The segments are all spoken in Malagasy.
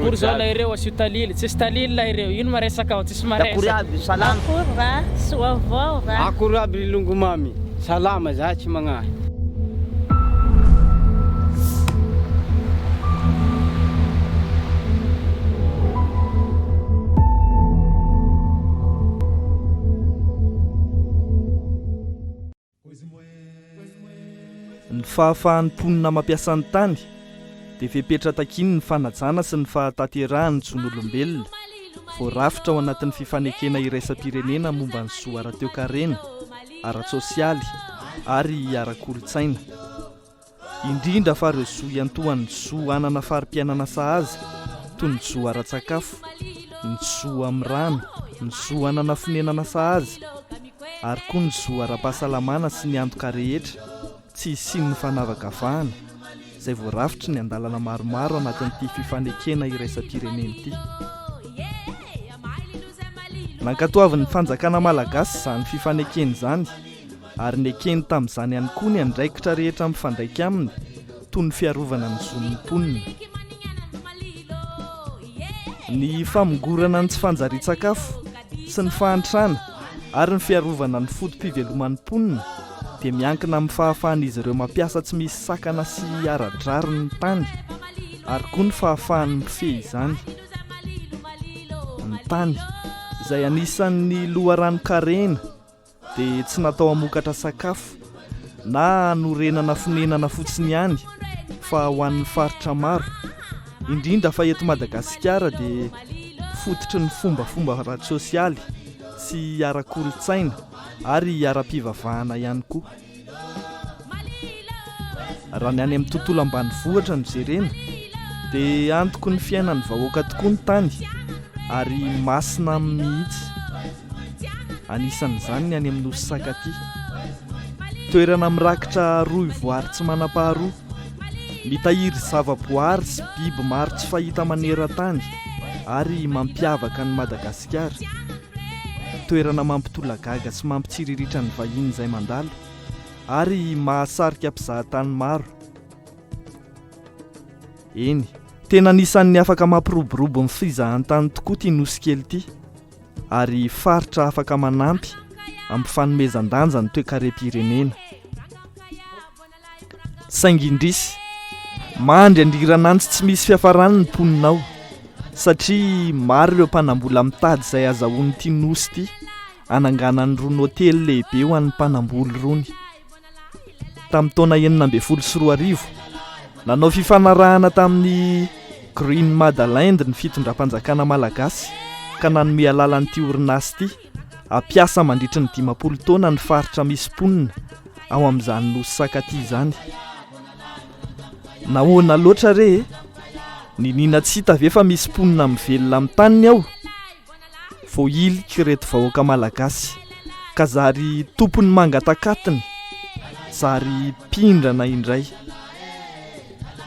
Akory zalahy ireo asio talily, tsisy talily lahy ireo, ino ma resaka ao? Akory aby ry salama. Akory ra, soa vao ra. Akory aby ry longomamy, salama zahay tsy magnahy. Ny fahafahan'ny mponina mampiasa ny tany dia fepetra takian'ny fanajana sy ny fahatanterahan'ny zon'olombelona, voarafitra ao anatin'ny fifanekena iraisam-pirenena momba ny zo ara-toekarena, ara-tsosialy ary ara-kolontsaina. indrindra fa ireo zo iantohan'ny zo hanana fari-piainana sahaza toy ny zo ara-tsakafo, ny zo amin'ny rano, ny zo hanana fonenana sahaza ary koa ny zo ara-pahasalamana sy ny antoka rehetra tsy hisian'ny fanavakavahana izay voarafitry ny andalana maromaro anatin'ity fifanekena iraisam-pirenena ity. Nankatoavin'ny fanjakana malagasy izany fifanekena izany. ary nekeny tamin'izany ihany koa ny andraikitra rehetra mifandraika aminy, toy ny fiarovana ny zon'ny mponina. Ny famongorana ny tsy fanjarian-tsakafo sy ny fahantrana ary ny fiarovana ny foto-piveloman'ny mponina dia miankina amin'ny fahafahan'izy ireo mampiasa tsy misy sakana sy ara-drariny ny tany ary koa ny fahafahany mifehy izany ny tany izay anisan'ny loharanon-karena dia tsy natao hamokatra sakafo na hanorenana fonenana fotsiny ihany fa ho an'ny faritra maro, indrindra fa eto Madagasikara dia fototry ny fombafomba ara-tsosialy sy ara-kolontsaina ary ara-pivavahana ihany koa. Raha ny any amin'ny tontolo ambanivohitra no jerena dia antoko ny fiainan'ny vahoaka tokoa ny tany ary masina aminy mihitsy. Anisan'izany ny any amin'ny nosy Sakatia. Toerana mirakitra rohy voary tsy manam-paharoa Mitahiry zavaboary sy biby maro tsy fahita maneran-tany ary mampiavaka an'i Madagasikara. Toerana mampitolagaga sy mampitsiriritra ny vahiny izay mandalo ary mahasarika mpizahatany maro. Eny, tena anisan'ny afaka mampiroborobo ny fizahantany tokoa ity nosy kely ity ary faritra afaka manampy amin'ny fanomezan-danja ny toekarem-pirenena. saingy indrisy mandry andiran'antsy tsy misy fiafarany ny mponina ao satria maro ireo mpanambola mitady izay azahoan'ity nosy ity ananganany rony hotely lehibe ho an'ny mpanamboly rony tamin'ny taona enina ambin'ny folo sy roa arivo nanao fifanarahana tamin'ny green madaland ny fitondram-panjakana malagasy ka nanome alala an'ity orinasy ity Hampiasa mandritry ny dimampolo taona ny faritra misy mponina ao amin'izany nosy sakaty izany. Nahoana loatra re e? Niniana tsy hita ve fa misy mponina mivelona amin'ny taniny ao? Voahiliky ireto vahoaka malagasy ka zary tompon'ny mangatakatiny, zary mpindrana indray.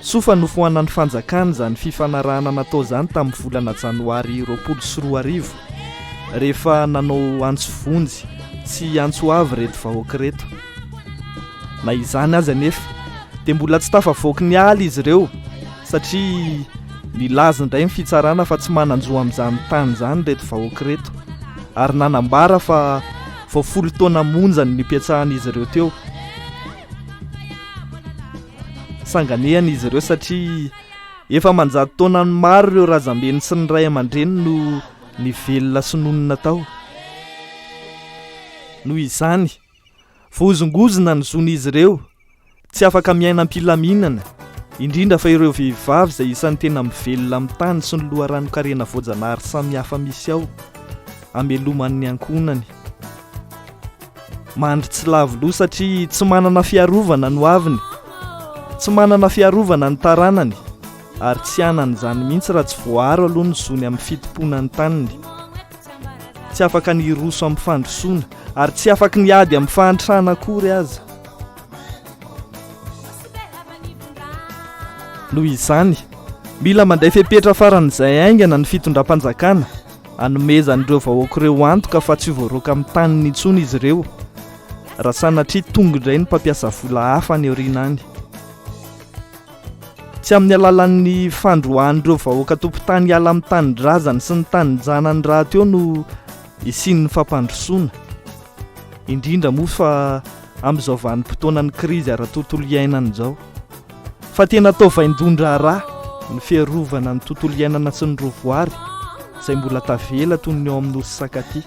Soa fa nofoanan'ny fanjakana izany fifanarahana natao izany tamin'ny volana janoary roapolo sy roa arivo, rehefa nanao antso vonjy sy antso avo ireto vahoaka ireto. Na izany aza anefa, dia mbola tsy tafavoaky ny ala izy ireo, satria nilaza indray ny fitsarana fa tsy manan-jo amin'izany tany izany ireto vahoaka ireto, ary nanambara fa vao folo taona monja ny nipetrahan'izy ireo teo. sanganehana izy ireo satria efa manjato taonany maro ireo razambeny sy ny ray aman-dreny no ny velona sy nonina tao noho izany vohozongozona ny zon'izy ireo tsy afaka miaina am-pilaminana indrindra fa ireo vehivavy izay isan'ny tena mivelona amin'ny tany sy ny loharanokarena voajanahary samihafa misy ao ameloman'ny ankohonany Mandry tsy lavo loha satria tsy manana fiarovana no aviny. Tsy manana fiarovana ny taranany ary tsy hanana izany mihitsy raha tsy voaaro aloha ny zony amin'ny fitompoana ny taniny. Tsy afaka ny hiroso amin'ny fandrosoana ary tsy afaka ny ady amin'ny fahantrana akory aza. Noho izany, mila manday fepetra faran'izay haingana ny fitondram-panjakana. Anomezan'ireo vahoaka ireo antoka fa tsy ho voaroaka amin'ny taniny intsony izy ireo raha sanatria tonga indray ny mpampiasa vola hafa any aoriana any. Tsy amin'ny alalan'ny fandroahan'ireo vahoaka tompon-tany hiala amin'ny tanindrazany sy ny tanin-janany rahateo no hisian'ny fampandrosoana, indrindra moa fa amin'izao vanim-potoanan'ny krizy ara-tontolo iainana izao. Fa tena atao vaindohan-draharaha ny fiarovana ny tontolo iainana sy ny rovoary izay mbola tavela toy ny ao amin'ny nosy Sakati.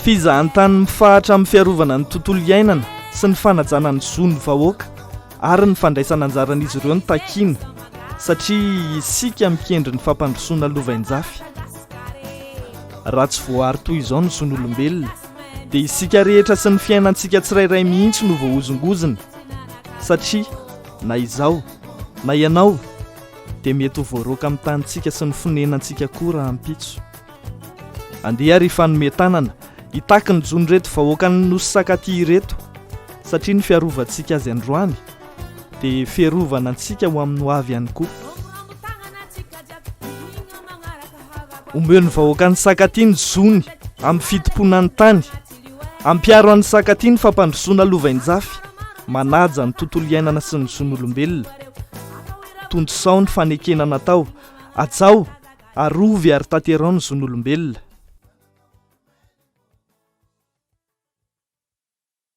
Fizahantany mifahatra amin'ny fiarovana ny tontolo iainana sy ny fanajana ny zon'ny vahoaka ary ny fandraisana anjaran'izy ireo no takiana satria isika mikendry ny fampandrosoana lovainjafy. Raha tsy voaaro toy izao ny zon'olombelona, dia isika rehetra sy ny fiainantsika tsirairay mihitsy no voahozongozona satria na izaho na ianao dia mety ho voaroaka amin'ny tanintsika sy ny fonenantsika koa raha ampitso andeha ary fanome tanana hitaky ny jono ireto vahoakan'ny nosy sakaty ireto satria ny fiarovantsika azy androany dia fiarovana antsika ho amin'ny hoavy ihany koa Omben'ny vahoaka ny sakatia ny zony amin'ny fitompoana ny tany. Ampiaro an'ny sakatia ny fampandrosoana lovainjafy manaja ny tontolo iainana sy ny zon'olombelona. Tontosao ny fanekena natao, ajao, arovy ary tanterao ny zon'olombelona.